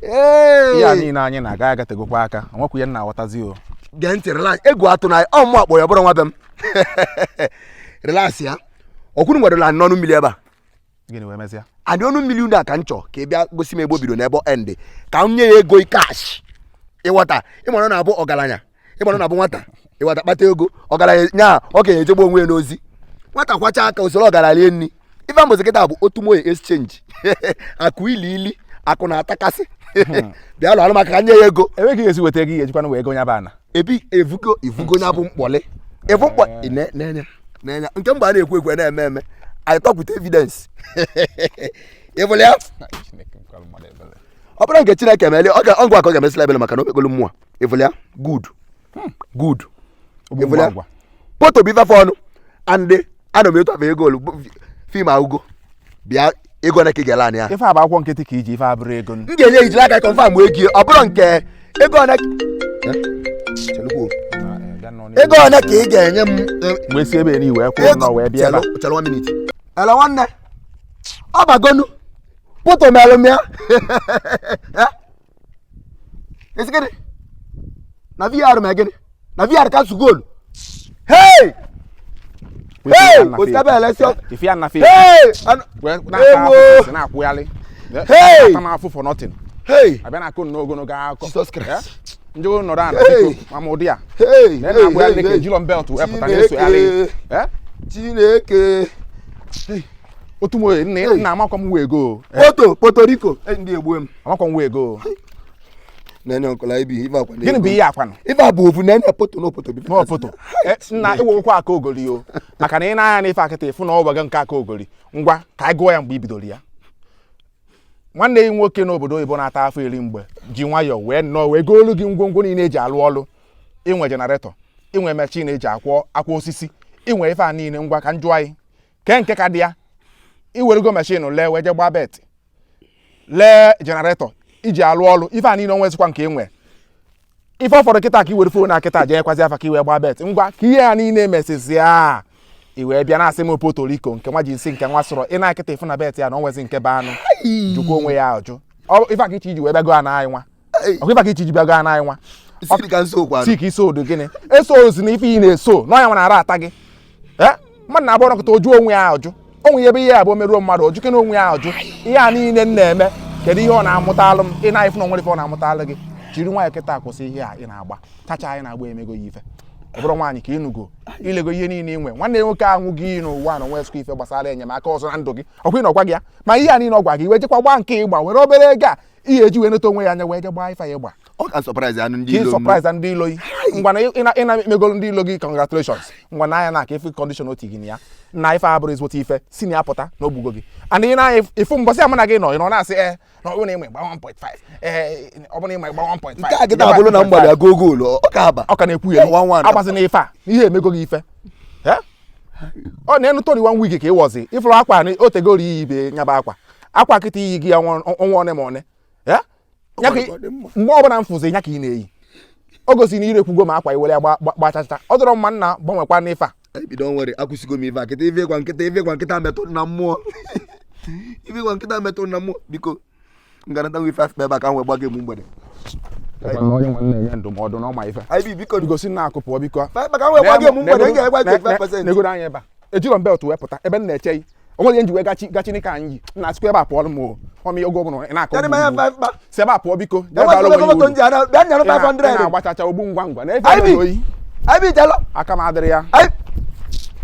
ihe a niile anyị na-aga agategokwa aka nwekwu ihe na-aghọtazi o gee ntị relax egwu atụna ị ọ mụ akpọ ya bụrụ nwa be m relax ya ọ kwa unu nwere ana n'ọnụ mmiri ebe a gịnị wee mesịa ana dị ọnụ mmiri unu a ka m chọ ka ị bịa gosi m ebe o bido na ebe ọ end ka m nye ya ego kash ị ghọta ị mara na-abụ ọgaranya ị mara na bụ nwata nwata kpata ego ọgaranya nya ọ ga-ejegbu onwe ya n'ozi nwata kwọcha aka o soro ọgaranya rie nri ife m bụzi kịta bụ otu moye exchange akụ ili ili akụ na-atakasị hmm. bịa lụ alụmaka ka nye ya ego enweghị esi weta ego ihe ejikwana wee ego nya bụ ana ebi evugo evugo nya bụ mkpọlị evu mkpọ eh. n'enya n'enya nke mgbe a na-ekwu ekwe na-eme eme anyị tọpụta evidence ị fụlụ ya ọ bụrụ nke chineke meeli ọ ga-agwa ka ọ ga-emesịla ebele maka na o mekpolu mmụọ ị fụlụ ya good hmm. good ị fụlụ ya poto bụ ifefe ọnụ and ana m etu afọ ego olu fim agụgo bịa ego na ka ị ga-ele ya ife a bụ akwụkwọ nkịtị ka i ji ife a bụrọ ego m ga-enye i jiri aka kọnfam wee gie ọ bụrụ nke ego ole ego ole ka ị ga-enye m mgbe si ebe ni wee kwụrụ nọ wee bịa chelụ minit ele nwanne ọ bagonu poto melụ m ya ị sị gịnị na vr ma gịnị na vr ka su goolu hey hey ositabe elesi ife ya na fe hey ewo na-akwụgharị hey ata m afụfụ for nothing hey a bịa na-akọ nnọọ ogologo akụkọ Jesus Christ eh? ndị ụlọ nọrọ ala biko ma ma ụdị a na-akwụgharị ka ejilọ m belt wepụta na-esogharị eh? Chineke otu mo nna ya nna amakwa m wee go poto poto rico e, ndị egbu m amakwa m wee go nene ọkọla ibi ife akwa gịnị bụ ihe a kwanụ ife a bụ ofu nene poto na opoto bife n'opoto E, nna ịwụwụkwa aka ogori o maka na ị nee anya n'ife a kịta ị fụ na ọ gbaga nke aka ogori ngwa ka anyị gụọ ya mgbe i bidoro ya nwanne gị nwoke n'obodo oyibo na-ata afọ iri mgbe ji nwayọọ wee nnọọ wee goolu gị ngwongwo niile e ji alụ ọlụ i nwe jenaretọ i nwe mechin e ji akwọ akwa osisi i nwe ife a niile ngwa ka m jụ anyị kee nke ka dị ya i werego mashin lee wee je gbaa bet lee jenaretọ i ji alụ ọrụ ife a niile o nwezikwa nke enwe ife ọ fọdụ kịta ka i were fon na kịta jeekwazi afa ka i wee gbaa bet ngwa ka ihe a niile emesizi a i wee bịa na-asị m Puerto Rico nke nwa ji nsi nke nwa sọrọ ị na kịta ị fụ na bet ya na o nwezi nke be anụ jụkwa onwe ya ajụ ife a ka i che i ji wee bịago a na anyị nwa ọkwa ịba ka ichi jibịa gaa n'anyị nwa tik iso odo gịnị eso ozi na ife ị na-eso n'ọnya nwere ara ata gị eh? mmadụ na-abụ ọ nọkata ọ jụọ onwe ya ajụ onwe ya ebe ihe abụọ meruo mmadụ ọ jụkene onwe ya ajụ ihe a niile m na-eme kedu ihe ọ na-amụtalụ m ị nee anya fụ na o nwere ife ọ na-amụtalụ gị jiri nwayọ kịta kwụsị ihe a ị na-agba chacha a ị na-agba emego gị ife ọ bụrụ nwaanyị ka ị nụgo i lego ihe niile i nwe nwanne nwoke ahụ gị n'ụwa na o nwe ife gbasara enyemaka ọzọ na ndụ gị ọkwa ịnọgwa gị ya ma ihe a niile ọ gwa gị i wee jekwa gbaa nke ị gba were obere ego a ihe eji wee neta onwe ya anya wee je gbaa ife ya gba ọ ka surprise anụ ndị ka ị ilo m. surprise-a ndị ilo gị ngwa na ị na- ị na-emegolu ndị ilo gị congratulations ngwa nee anya na ka ife condition otu gị na ya na ife a bụrụ ezigbote ife si na ya pụta na o gbugo gị and ị na-anya ifu mbọsị a mụ na gị nọ ị nọ na-asị ee na ọ bụrụ na ị ma ị gbaa 1.5 ee ọ bụrụ na ị ma ị gbaa 1.5 nke a kịta abụrụ na m gbaa goal goal ọ ọ ka-aba ọ ka na-ekwu ya One, one. agbazina ife a na ihe emego gị ife Eh? ọ na-enu toni wan wig ka ị wọzi ị fụrụ akwa na o tegoro i yibe nya bụ akwa akwa kịta i yigo ya ọnwa one ma one ya ka mgbe ọbụla m fụzi ya ka ị na-eyi o gosiri na i rekwugo ma akwa i were ya gba chacha ọ dịrọ mma nna gbanwekwa n'ife a ebido nwere akwụsịgo m ife a kịta ife ị gwa m kịta ife ị gwa m kịta metụ m na mmụọ ife ị gwa m kịta metụ m na mmụọ biko ngarata nwe ife afọ ebe a ka m wee gbago egbu mgbede onye m wee na-enye ndụmọdụ na ọ ma ife gosi na akụ pụọ biko negoro anya ebe a ejirọ m belt wee pụta ebe m na-eche o nwere ihe m ji wee gachi gachi n'ike anyị yi nna sikwa ebe a pụọ m o ọmị oge ọbụla ị na-akọ Kedụ m anya mba mba. si ebe a pụọ biko jee Enwere bara onwe gị moto uru. nji ara bịa nyere Ị na- ị 500. na-agba chacha ogbu ngwa ngwa na-efe Anyị bi. oyi Anyị bi jalo. aka m adịrị ya Anyị